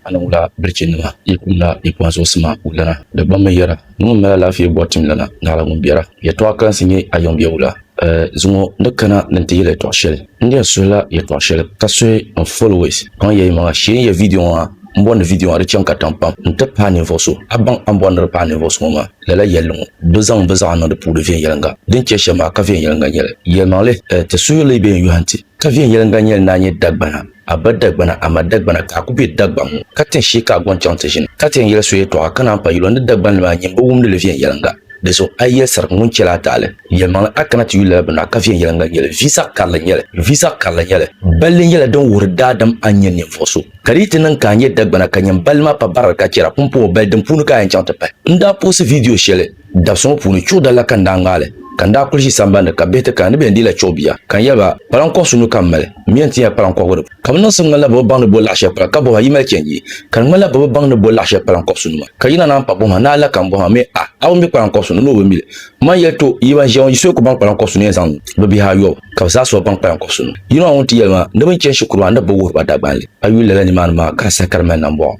A ni wula birichinima yi kumda yi kpaŋ zuɣusima wulana, di gba mi yɛra, Ni ŋun mali alaafee bɔri timlana, Naɣila ŋun biɛra. Yɛtɔɣ kalinsi nyɛ a yiŋbiɛ wula? Ɛ! Zuŋɔ ni kana ni n-ti yɛli yɛtɔɣ shɛli, n daa suhila yɛtɔɣ shɛli ka suhi n followers. Kpaŋya yimaŋa, sheei n yɛ vidiyo ŋɔ ha, m bɔri ni vidiyo ŋɔ di chaŋ katiŋ pam nti paai ninvuɣ so. A baŋ a ni bɔri ni di paai ninvuɣ so ŋɔ maa? Lala yɛlli ŋɔ bi zaŋ bɛ zaɣa niŋdi puuri viɛnyɛliŋga. Din chɛ shɛm maa ka viɛnyɛliŋga nyɛli. Yɛlimaŋli, ti suhuyurili bee n-yɔhi nti ka viɛnyɛliŋga nyɛli ni a nyɛ Dagbana? A ba Dagbana, a ma Dagbana, ka a ku be Dagbaŋ ŋɔ, ka tin shee ka a gɔŋ chaŋ ti ʒini, ka ti yɛn yɛli so yɛtɔɣa ka naan pa yuli ni Dagbanli maa nyini bi wumdi li viɛnyɛliŋga. Di zuɣu a yi yɛli sarigi ŋun chɛla a taali yɛlimaŋli a kana ti yuli lala bini na, ka viɛnyɛliŋga nyɛ li, vi zaɣ karili nyɛ li, vi zaɣ karili nyɛ li. Balli nyɛla din wuhiri daadam a ni nyɛ ninvuɣ so, ka di yi ti niŋ ka a nyɛ Dagbana ka nyini balli maa pa barili ka chɛra pumpɔŋɔ bali din puuni ka a yɛn chaŋ ti pahi. N daa puɣisi viidiyo shɛli. Dabsi ŋɔ puuni chuɣu dalila ka n daa ŋmaai li ka n daa kuli ʒi sambani ka bihi ti kana ni bɛ yɛn deei la chuɣu bia ka n yɛli ba, Kpalaŋ kɔɣisu nuu ka m mali, m mi yɛn tin yɛli kpalaŋ kɔɣigu di puuni ka bɛ niŋsim ŋmanila bɛ bi baŋ ni bo laɣ shɛli kpalaŋ ka bɔhima yi mali chɛ n-yi ka di ŋmanila bɛ bi baŋ ni bo laɣ shɛli kpalaŋ kɔɣisu nima ka yi na naan pa bɔhima ni a la ka m bɔhima mi a, a bi mi kpalaŋ kɔɣisu ni ni o bi mi li. M ma n-yɛli to, yi ban ʒiya ŋɔ yi suhi ku baŋ kpalaŋ kɔɣisu ni yɛn zaŋ niŋ bɛ bihi ayɔbu ka bɛ zaa suhi baŋ kpalaŋ kɔɣisu nima. Yino maa ŋun ti yɛli ma ni bɛ ni chani shikuru maa ni bɛ bi wuhiri ba Dagbanli a yuli lala nimaani maa ka di saha ka di mali nambɔɣu.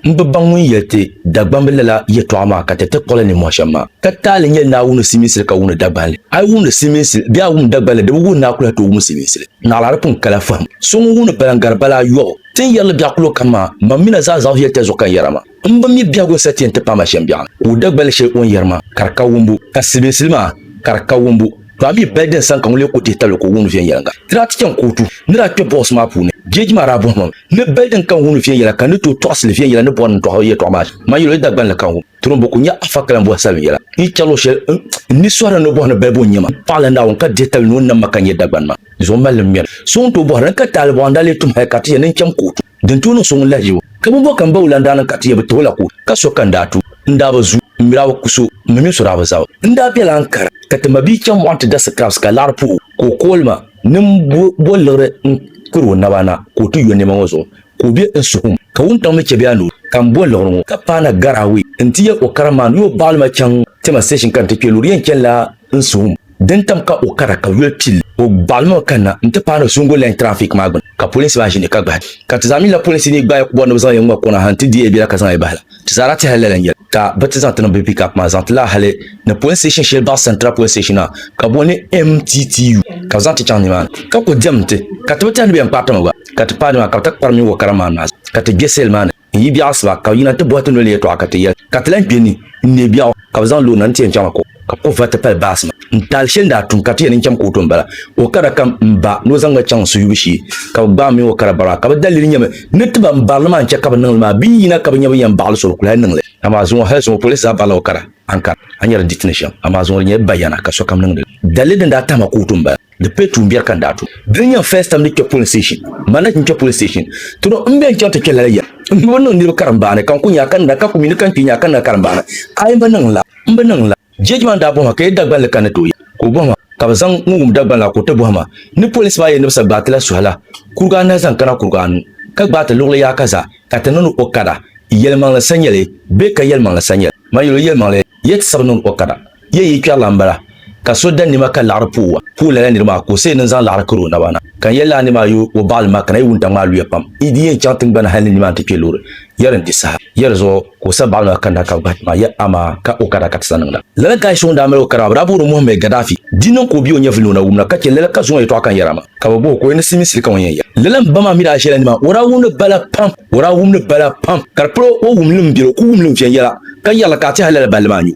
N bi baŋ ŋun yɛli ti Dagbamb lala yɛtɔɣa maa ka ti ti kpuɣi li ninmɔhi shɛm maa. Ka taali nyɛli ni a wumdi silimiinsili ka wumdi Dagbanli. A yi wumdi silimiinsili bee a wumdi Dagbanli, di bi wuhi ni a kuli ha tooi wum silimiinsili. Naɣila di pun kala fahim. So ŋun wumdi bala n-gari bala ayɔbu. Ti ni yɛri li biɛɣu kulo kam maa, mam mi na zaa zaɣisi yɛli tɛha zuɣu ka n yɛra maa. M bi mi biɛhigu n-sa ti yɛn ti paai ma shɛm biɛɣu ni. Ka o Dagbanli shɛli o ni yɛri maa, ka di ka wumbu, ka silimiinsili maa, ka di ka wumbu. To a mi bɛli din sani ka ŋun lee ku dihi tabili ka o wumdi viɛnyɛliŋga, ti daa ti chaŋ kootu ni daa kpe bɔɣisi maa puuni. Jeeji maa daa bɔhimmi ni bɛli din kani wumdi viɛnyɛla ka ni tooi tɔɣisili viɛnyɛla ni bɔri ni n dɔɣi yɛtɔɣa maa shɛm man yɛl o yi Dagbanli kani wum turim bo ka o nya afa ka lan bɔhi salim yɛla n yi chɛ luɣ shɛl n ni sɔri ni ni bɔhi ni balibu n nyɛ ma paɣa la Naawuni ka dihi tabili ni o nam ma ka n nyɛ Dagbani maa zuɣu mali ni m mɛri so ŋun tooi bɔhiri ni ka taalibɔɣu n daa lee tum hal ka ti yɛn ni n chaŋ kootu. Din tooi niŋ so ŋun lahi yi o, ka bimbɔŋ kam ba o lan daa niŋ ka ti yɛn bi ti o la ku o, ka so ka n daa tu, n daa bi zu, m mi daa bi ku so, m mi mini so daa bi zab. N daa bela Ankara, ka ti mabia chaŋ mɔɣu nti da sikaafs ka laɣiri puhi o, ka o kooli ma ni m bo liɣiri n kuri o naba na ka o ti yo nɛma ŋɔ zuɣu, ka o be n suhim, ka wuntaŋ mi chɛ bɛ anuu ka m bo liɣiri ŋɔ. Ka paana Garaawe n-ti yɛli o karimma ni o baɣili ma chaŋ Tema station ka n ti kpe loori yɛn chanila n suhum din tam ka o kara ka yoli pilli. O baɣili mi o kanna n ti paai ni Zungu Line Traffic maa gbuni ka polinsi maa ʒini ka gbahi ka ti zaa mi la polinsi ni gbaai bɔri ni bɛ zaŋ yi ŋma kɔna ha n ti di Abila ka zaŋ yi bahi la. Ti zaa daa tɛhila lala n yɛli ka bɛ ti zaŋ ti niŋ bɛ pick-up maa zaŋ ti laai hali ni police station shɛli baɣi Central Police Station maa ka boli ni MTTU ka bɛ zaŋ ti chaŋ ni maa ni ka ku diɛm ti ka ti bi tɛhi ni bɛ yɛn kpaari ti mi gba ka ti paai ni maa ka bɛ ti kpari mi o kara maa ni maa zuɣu ka ti gbe seli maa ni. n yi biɛɣu asiba ka bɛ yina ti bɔhi ti noli yɛtɔɣa ka ti yɛli, Ka ti lahi kpe ni n neei biɛɣu, ka bɛ zaŋ loori na ni ti yɛn chaŋ a ko, ka bɛ kpuɣi vati pali baasi maa. N taali shɛli n daa tum ka ti yɛli ni n cham kootu m-bala. O kara kam m ba ni o zaŋ ma chaŋ n suyubu shee, ka bɛ gbaai m mini o kara bara maa, ka bɛ dalili nyɛ mi ni ti ba m bari li maa n-chɛ ka bɛ niŋ li maa, bɛ yi yina ka bɛ nya bɛ yɛn baɣili so bɛ ku lahi niŋ li. Amaa zuŋɔ hali zuŋɔ polinsi zaa barila o kara, Ankara, a nyari di ti ni shɛm, amaa zuŋɔ di nyɛla bayana ka sokam niŋdi li. Dalili din daa tahi ma kootu m-bala. Di pay tuun biɛri ka n daa tu. Dini n-nyɛ n first time ni kpe polling station. Ma na chi n kpe polling station. Ti do m be n chaŋ ti kpe lala yɛm. M bi niŋ niriba karimbaani ka n ku nya a ka nira ka ku mi ni ka n kpi nya a ka nira karimbaani. Ayi m bi niŋ la. M bi niŋ la. Judge maa daa bɔhi ma ka yɛ Dagbanli ka n ni ti o yɛm. Ka o bɔhi ma ka bɛ zaŋ ŋun wum Dagbanli la ka o ti bɔhi ma ni police maa yɛn ni bɛ sa gbaai ti la suhi la kurigu anahi zaŋ kana kurigu anu ka gbaai ti luɣili yaha ka zaa ka ti niŋdi o kada yɛlimaŋli sanyali bee ka yɛlimaŋli sanyali. Ma yɛl o yɛlimaŋli. Ya ti sab niŋ o kana, ya yi kpɛri la m-bala, ka so da nima ka laɣiri puhi wa, puhi lala nir maa ka o seei ni n-zaŋ laɣiri kari o naba na. Ka n yɛli la a nima a yo o baɣili ma, ka na yi wuntaŋ maa luya pam. Yi di yɛn chaŋ tiŋgbani hal ni nimaani ti kpe loori, ya di n-di saha. Ya di zuɣu ka o sa baɣili maa kanna ka gbahi ti ma, ya amaa ka o kana ka ti sa niŋda. Lala kahi so ŋun daa mali o kana maa, bɛ daa booni o Mohammed Gaddafi. Di niŋ ka o bia o nyɛvili ni o na wumna, ka chɛ lala ka zuŋɔ yɛtɔɣa ka n yɛra maa, ka bɛ bɔh o ka o yɛn ni silimiinsili ka ŋun yɛn ya. Lala m ba maa mi daa ʒela nimaani, o daa wumdi bala pam. O daa wum li bala pam, ka di pal o wumli m-biri o, ka o wumli n-viɛnyɛla, ka yɛri li ka a ti hal lala balli maa nyu.